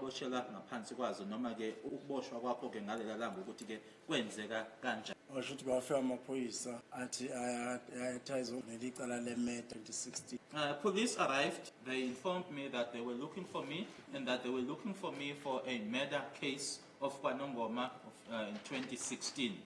oboshelwa ngaphansi kwazo noma-ke ukuboshwa kwakho-ke ngalela langa ukuthi-ke kwenzeka kanjani washo ukuthi kwafika amaphoyisa athi ayathayiza leli cala le-may 2016 Uh, police arrived, they informed me that they were looking for me and that they were looking for me for a murder case of Kwanongoma of, uh, in 2016.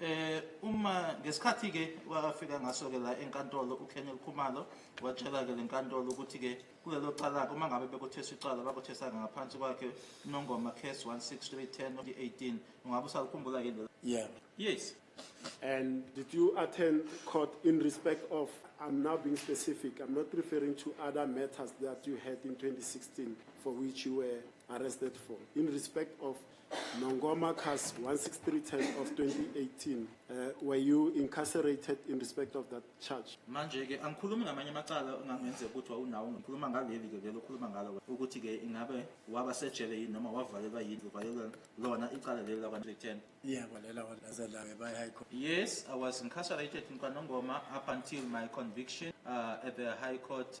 Eh uma ngesikhathi ke wafika ngaso ke la enkantolo uKenel Khumalo watshela ke lenkantolo ukuthi ke kulelo cala uma ngabe bekuthesa icala bakuthesa ngaphansi kwakhe Nongoma case 16310 2018 ungabe usalikhumbula ke Yeah. Yes. And did you attend court in respect of, I'm now being specific, I'm not referring to other matters that you had in 2016 for which you were arrested for, in respect of Nongoma Cus 16310 of 2018 uh, were you incarcerated in respect of that charge manje ke angikhulumi ngamanye amacala ongangenzeka ukuthi wawunawo ngikhuluma ngaleli ke lelo khuluma ngalo ukuthi ke ingabe waba sejele yini noma wavalelwa yini uvalelwa lona icala leli lakwa 10 yeah kwalela walaze la ke by high court yes i was incarcerated in kwanongoma up until my conviction uh, at the high court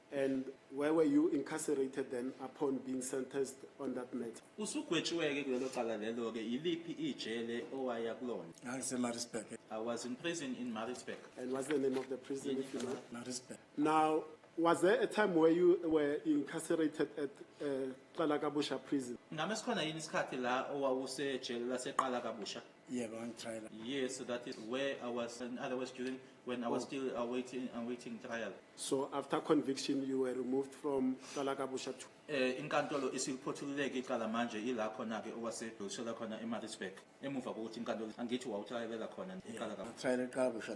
And where were you incarcerated then upon being sentenced on that matter? Usugwetshiwe-ke kulelo cala lelo-ke, yiliphi ijele owaya kulona? NgangiseMaritzburg, I was in prison in Maritzburg. And what's the name of the prison if you know? Maritzburg. Now, was there a time where you were incarcerated at uh, Qalakabusha prison? Ngame sikhona yini isikhathi la owawusejele laseqala kabusha? Yebo ngangitrial. Yes, so that is where I was in other words during when I was oh. still awaiting uh, awaiting uh, trial. So after conviction you were removed from Kalakabusha to eh inkantolo isiphothululeke icala manje ila khona ke owase dosela khona eMaritzburg emuva kokuthi inkantolo angithi wawutrialela khona iqala ka trial eqabusha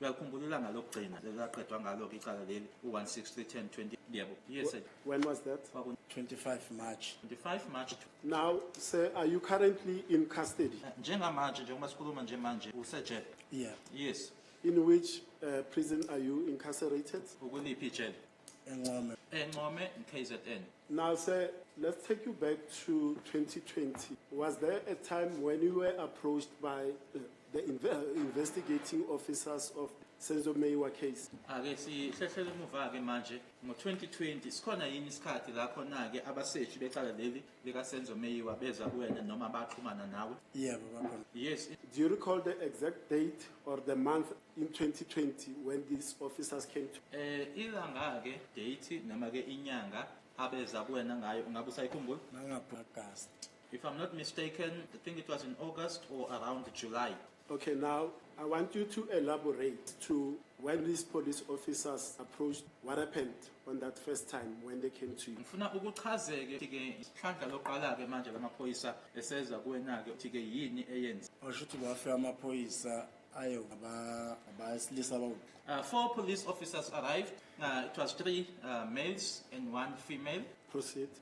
Uyakhumbulula ngalokugcina lelaqedwa ngalo ke icala leli u-1631020 yebo yes when was that Kwaku 25 March 25 March now sir are you currently in custody eh, njengamanje njengoba sikhuluma nje manje usejele yeah yes in which uh, prison are you incarcerated ukuliphi ijele encome encome kzn Now, sir, let's take you back to 2020. Was there a time when you were approached by uh, the inve uh, investigating officers of Senzo Meyiwa case? Ake sihlehlele emuva-ke manje ngo-2020 sikhona yini isikhathi la khona-ke abaseshi becala leli lika Senzo Meyiwa beza kuwena noma baxhumana nawe? Yebo bakhona. Yes. Do you recall the exact date or the month in 2020 when these officers came to? Eh ilanga ke date noma ke inyanga abeza kuwena ngayo ungabe usayikhumbula? Nangapha August. If I'm not mistaken, I think it was in August or around July. Ok now I want you to elaborate to when these police officers approached what happened on that first time when they came to you. Ngifuna ukuchazeke ke isihlandla loqala ke manje lamaphoyisa eseza kuwena ke uthi ke yini eyenza. Washo ukuthi kwafe amaphoyisa ayo abasilisa abawuku uh, four police officers arrived uh, it was three uh, males and one female proceed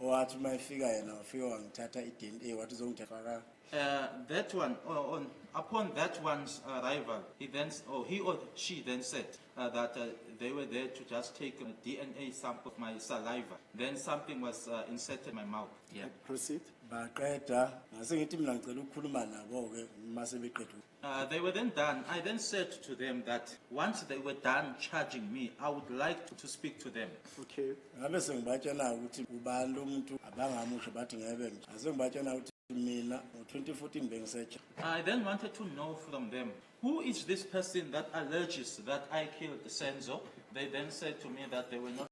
owathi uma efika yena wafika wangithatha i-dna wathi uzongithefaka uh, that one uh, on, upon that one's arrival he then or oh, he or she then said uh, that uh, they were there to just take a dna sample of my saliva then something was uh, inserted in my mouth yeah. proceed baqeda ngase ngithi mina ngicela ukukhuluma nabo-ke uma sebeqeda Uh, they were then done. I then said to them that once they were done charging me, I would like to, to speak to them. Okay. ngabe sengibatshela ukuthi ubani lo muntu abangamusho bathi ngebe nje ase ngibatshela ukuthi mina ngo-2014 bengisetsha I then wanted to know from them who is this person that alleges that I killed Senzo. They then said to me that they were not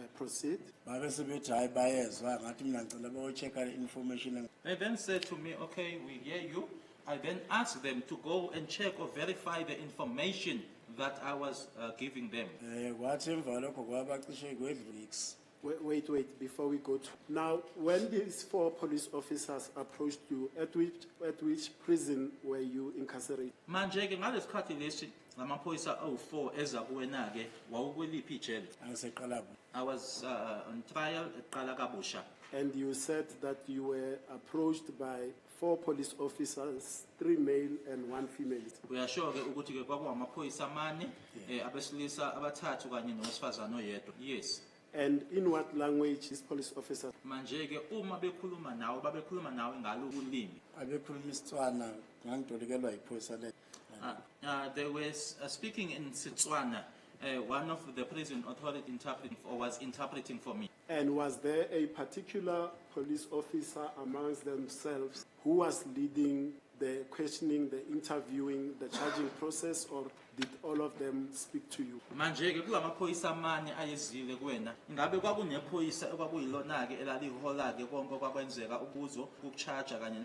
Eh, proceed. Babe sebethi hayi bayezwa ngathi mina ngicela bayochecka le information. They then said to me, okay, we hear you. I then asked them to go and check or verify the information that I was uh, giving them. Eh kwathi emva lokho kwabacishe kwedlulix. Wait, wait, wait, before we go to. Now, when these four police officers approached you, at which, at which prison were you incarcerated? Manje ke ngalesikhathi lesi Amaphoyisa awu-4 eza kuwena-ke, wawukweliphi ijele? Aseqala ku. I was uh, on trial eqala kabusha. And you said that you were approached by four police officers, three male and one female. Uyasho-ke ukuthi-ke kwakuwamaphoyisa amane, eh, abesilisa abathathu kanye nowesifazane oyedwa. Yes. And in what language these police officers? Manje-ke uma bekhuluma nawe, babekhuluma nawe ngalo ulimi. Abekhuluma isiTswana, ngangitolikelwa yiphoyisa le. Uh, uh, they were uh, speaking in Setswana. Uh, one of the prison authority interpreting for, was interpreting for me. And was there a particular police officer amongst themselves who was leading the questioning, the interviewing, the charging process, or did all of them speak to you? manje-ke kulamaphoyisa amane ayezile kuwena ingabe kwakunephoyisa okwakuyilona-ke elalihola-ke konke okwakwenzeka ubuzo ukuchaja kanye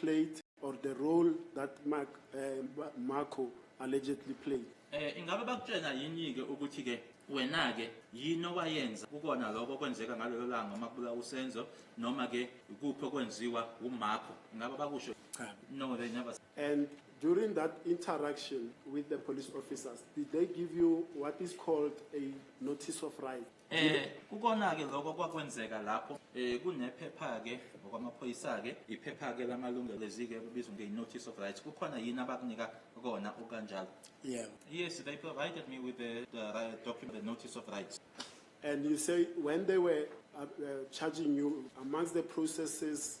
played or the role that Mark, uh, Marco allegedly played. Eh ingabe bakutshena yini ke ukuthi ke wena ke yini owayenza kukona lokho kwenzeka ngalelo langa uma kubula usenzo noma ke ikuphi okwenziwa uMarco ingabe bakusho cha no they never and during that interaction with the police officers did they give you what is called a notice of right Eh kukona-ke lokho kwakwenzeka lapho eh kunephepha-ke ngokwamaphoyisa-ke iphepha-ke lamalungelo ezike kubizwa nge-notice of rights kukhona yini abakunika kona okanjalo yeah yes they provided me with the, the uh, document the notice of rights and you say when they were uh, uh, charging you amongst the processes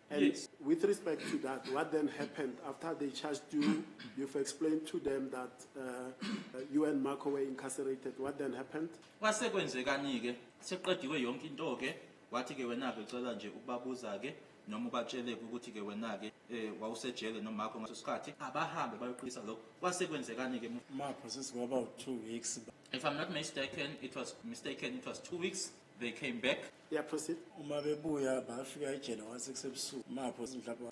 And yes. with respect to that, what then happened after they charged you? You've explained to them that uh, uh you and Marco were incarcerated. What then happened? Kwase kwenzekani-ke seqediwe yonke into-ke wathi-ke wena-ke cela nje ukubabuza-ke noma ubatshele-ke ukuthi-ke wena-ke um eh, wawusejele nomakho ngaso sikhathi abahambe bayoqisa lokho kwase kwenzekani-ke mapho sesingaba u-two weeks if i'm not mistaken it was mistaken it was two weeks they came back Yeah, proceed. Uma bebuya bafika ejele one six ebusuku mapho mhlawumbe